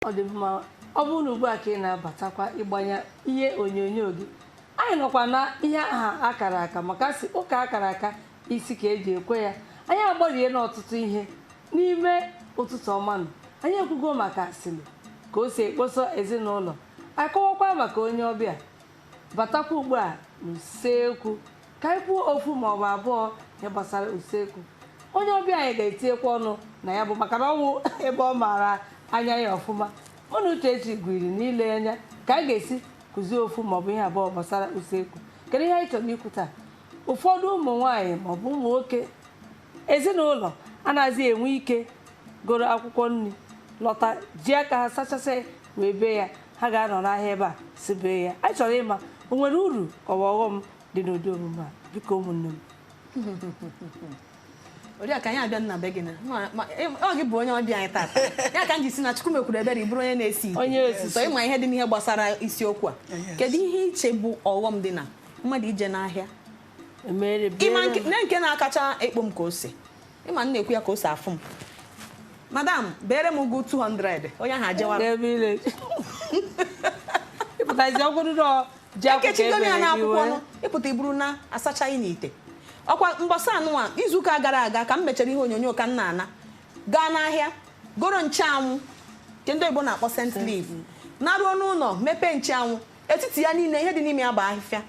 ọ dị mma ọ bụrụ na ugbu a ka ị na-abatakwa ịgbanye ihe onyonyo gị anyị nọkwa na ihe aha akara aka maka a sị ụka akara aka isi ka eji ekwe ya anyị agbarie n'ọtụtụ ihe n'ime ụtụtụ ọma nụ anyị ekwugo maka asịrị ka o si ekposo ezinụlọ akọwakwa maka onye ọbịa batakwa ugbu a n'usekwu ka anyị kwuo ofu ma ọ bụ abụọ ihe gbasara usekwu onye ọbịa anyị ga-etinyekwa ọnụ na ya bụ maka na ọ wụ ebe ọ maara anya ya ọfụma mụ na Uchechi gwiri na-ele anya ka anyị ga-esi kụzie ofu ma ọ bụ ihe abụọ gbasara usekwu kedu ihe anyị chọrọ ikwu taa ụfọdụ ụmụ nwaanyị maọbụ ụmụ nwoke ezinụlọ anaghịzi enwe ike goro akwụkwọ nri lọta ji aka ha sachasị wee bee ya ha ga-anọ n'ahịa ebe a sị bee ya anyị chọrọ ịma o nwere uru ka ọ bụ ọghọm dị n'ụdị omume a biko ụmụnne m Oriakụ anyị abịana be gị na ma- ma- ị- ọ gị bụ onye ọbịa anyị tata ya ka m ji sị na Chukwu mekwuru ebere ị bụrụ onye na-esi ite. Onye osisi. sọ ịma ihe dị n'ihe gbasara isiokwu a kedu ihe i che bụ ọghọm dị na mmadụ ije n'ahịa Emere bịara ịma nke- m. na nke na-akacha ekpo m ka ose ịma m na-ekwu ya ka o si afụ m madam beere m ụgụ 200 onye ahụ ajewa N'ebe ile. Ịpụtazi ọgwụrụ nọ ji akwụkwọ ekechigo m ya ebere na gị akwụkwọ wee. nụ ị pụta i buru na asachaghị n'ite ọkwa mbọsị anụnwa izuụka gara aga ka m mechara ihe onyonyo ka m na-ana gaa n'ahịa goro ncheanwụ nke ndị oyibo na-akpọ scent leaf naruo n'ụlọ mepee ncheanwụ etiti ya niile ihe dị n'ime ya bụ ahịfịa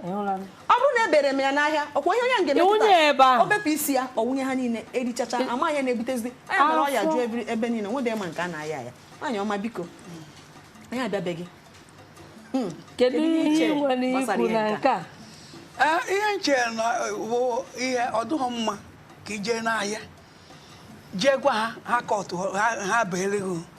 ọ bụrụ na ebere m ya n'ahịa ọkwa ihe onye a ga-emepụta o bepụ isi ya ọ wụnye ha niile erichacha ama ya na-ebutezi ọ ya mere ọya juo ebe niile nwede ma nke a na-aya ya nwaanyị ọma biko anyị abịa be gị hmm. kedu ihe i nwere ikwu na nke a eh, ihe m che na ọ bụ ihe ọ dịghị mma ka i je n'ahịa jee gwa ha ha kọtụ ha beere gị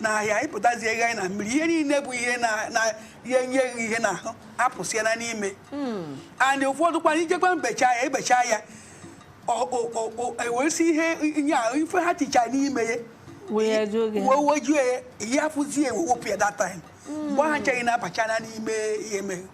n'ahịa ị pụtazie ego anyị na mmiri ihe niile bụ ihe na- na-enye gị ihe n'ahụ apụsịala n'ime and ụfọdụ kwanụ i jekwa ebecha ya ebecha ya ọ- ọ- ọ- ọ- eweresi ihe ihe a ife ha ticha n'ime ya Wee jụọ gị. wee wejuo ya ihe afụzie ewepụ ya that time mgbe ahụ ncheghị na-abachana n'ime ihe mere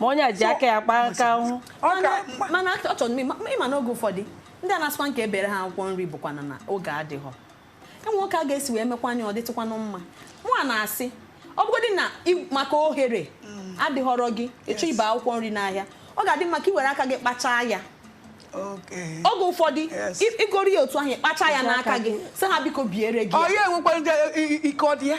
ma onye a ji aka ya kpaa aka ahụ mana ọ chọrọ n'ime ị ma na oge ụfọdụ ndị a na-asịkwa nke e beere ha akwụkwọ nri bụkwa na oge adịghọ e nwere ka a ga-esi wee mekwanụ ya ọ dịtụkwanụ mma mụwa na-asị ọ bụgodị na maka ohere mm. adịghọrọ gị ị chọọ ibe akwụkwọ nri n'ahịa ọ ga-adị mma ka ị were aka gị kpachaa ya oge ụfọdụ i goro ya otu ahụ kpacha ya n'aka gị sị ha biko beere gị ọ ya enwekwa ike ọ dị ya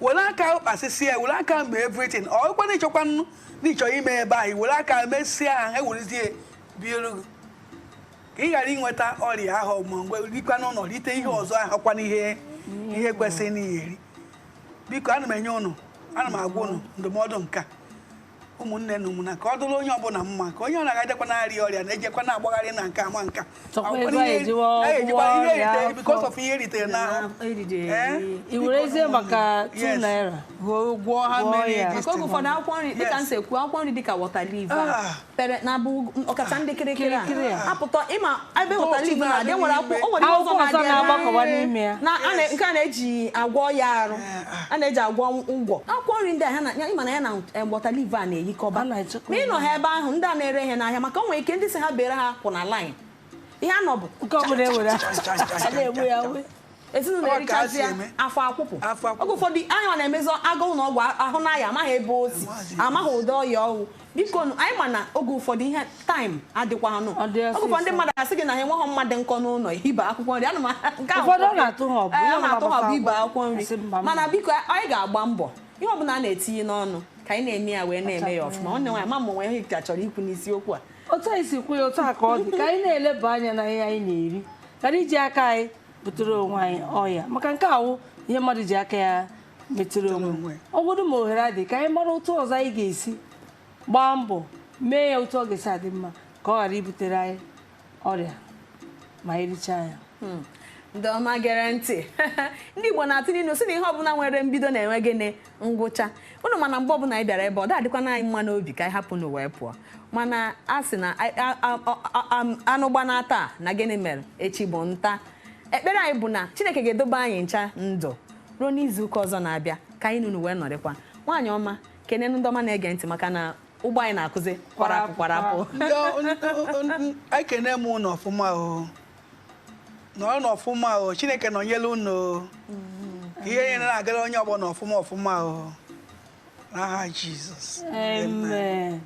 were aka ahụ kpasịsịa ya were aka ahụ mee everything ọ kwa na ịchọkwa nnu na ịchọ ime ebe ahụ were aka ahụ mesịa ha ha ewerezie biere gị ka ị ghara inweta ọrịa ahụ ma mgbe rikwa n'ụlọ rite ihe ọzọ ahụ kwa n'ihe ihe kwesịrị n'ihe eri biko ana m enye ụnụ ana m agwa ụnụ ndụmọdụ nke a ụmụnne na ụmụna ka ọ dụrụ onye ọbụla mma ka onye ọrịa gadekwa na-arịa ọrịa na-ejekwa na-agbagharị na nke ama nka because of ihe eritere n'ahụ i werezie maka naira gwọọ ha mmiri maka oge ụfọdụ akwụkwọ nri dịka m si ekwu akwụkwọ nri dịka waterleaf ah. pere na abụ ọkacha ndị kịrịkịrị a apụta ị ma ebe waterleaf na-adị nwere akwụkwọ o nwere ihe ọzọ na-adị na nke a na-eji agwọ ya arụ a na-eji agwọ ngwọ akwụkwọ nri ndị a ị ma na ya na waterleaf a na-eyikọba ma ị nọ ha ebe ahụ ndị a na-ere ihe n'ahịa maka o nwere ike ndị sị ha beere ha kwụ na line ihe a nọbụ ezinụlọ erichazi ya afọ akwụpụ oge ụfọdụ anyị na-emezi agụụ na ọgwụ ahụ n'ahịa amaghị ebe o si amaghị ụdị ọya ọ wụ biko nụ, anyị ma na oge ụfọdụ ihe time adịkwanụ Ọ dị oge ụfọdụ ndị ọsịsọ. mmadụ asị gị na ha enweghị mma dị nkọ n'ụlọ ibe akwụkwọ nri anụ m nke ahụ Ụfọdụ ọ na-atụ ha ọgụ, Ee, ihe ọ ọbụla na-atụ ha ọgụ gbasara ibe akwụkwọ akwụkwọ nri asị mba, mba. mana biko anyị ga-agba mbọ ihe ọbụla a na-etinye n'ọnụ ka anyị na-eme ya wee na-eme ya ọfụma nwanne nwaanyị ama m o nwe ihe ị ka chọrọ ikwu n'isiokwu a otu anyị si kwuo ya otu a ka ọ dị ka anyị na-eleba anya na ihe anyị na-eri ghara iji aka anyị butere onwe anyị ọya maka nke a wụ ihe mmadụ ji aka ya metere onwe ọ bụrụ ma ohere adị ka anyị mara otu ọzọ anyị ga-esi gbaa mbọ mee ya otu ọ ga-esi adị mma ka ọ ghara ibutere anyị ọrịa ma anyị richaa ya hmm. ndị ọma gere ntị ndị Igbo na-atụ n'ilu sị na ihe ọbụla nwere mbido na-enwe gịnị ngwụcha ụnụ ma na mgbe ọbụla anyị bịara ebe a ọ da-adịkwanụ anyị mma n'obi ka anyị hapụ ụnụ wee pụọ mana a sị na anụ gbanaa taa na gịnị mere echi bụ nta ekpere anyị bụ na Chineke ga-edobe anyị ncha ndụ ruo n'izu ụka ọzọ na-abịa ka anyị na unu wee nọrịkwa nwaanyị ọma kene ndị ọma na-ege ntị maka na ụgbọ anyị na-akụzi kwarapụ kwarapụ ekene m unu ọfụma o nọrọnụ ọfụma o chineke nọnyere unu o ihe niile na-agara onye ọbụna ọfụma ọfụma o n'aha Jizọs amen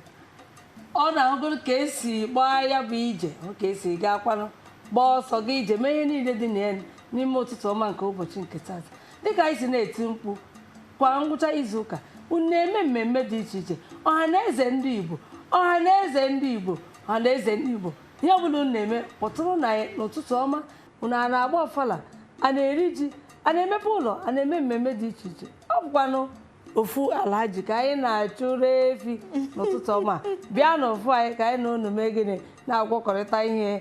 unu ahụgoro ka esi gbaa ya bụ ije hụ ka esi gaa kwanụ gbaa ọsọ gaa ije mee ihe niile dị na ya n'ime ụtụtụ ọma nke ụbọchị nke taata dịka anyị si na-eti mkpu kwa ngwụcha izu ụka unu na-eme mmemme dị iche iche ọha na eze ndị igbo ọha na eze ndị igbo ọha na eze ndị igbo ihe ọbụla unu na-eme kpọtụrụnụ anyị n'ụtụtụ ọma unu a na-agba ọfala a na-eri ji a na-emepe ụlọ a na-eme mmemme dị iche iche ọ bụkwanụ ofu Alhaji ka anyị na-achụrụ efi n'ụtụtụ ọma bịa n'ofu anyị ka anyị na unu mee gịnị na-agwakọrịta ihe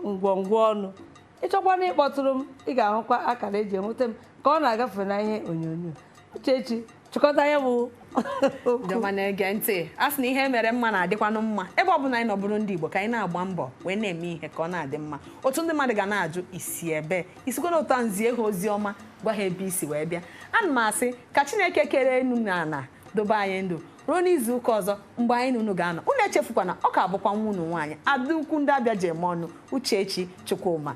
ngwongwo ọnụ ị chọkwana ịkpọtụrụ m ị ga-ahụkwa akara e ji enweta m ka ọ na-agafe na ihe onyonyo Uchechi chịkọta ya bụ ndị ọma na-ege ntị a sị na ihe mere mma na-adịkwanụ mma ebe ọ bụla anyị nọ bụrụ ndị Igbo ka anyị na-agba mbọ wee na-eme ihe ka ọ na-adị mma otu ndị mmadụ ga na-ajụ isi ebe i sikwa lọta zie ha ozi ọma gwa ha ebe i si wee bịa ana m asị ka Chineke kere enu na ala dobe anyị ndụ ruo n'izu ụka ọzọ mgbe anyị na unu ga-anọ unu echefukwana ọ ka bụkwa nwa unu nwaanyị ada ukwu ndị Abịa ji eme ọnụ Uchechi Chukwuma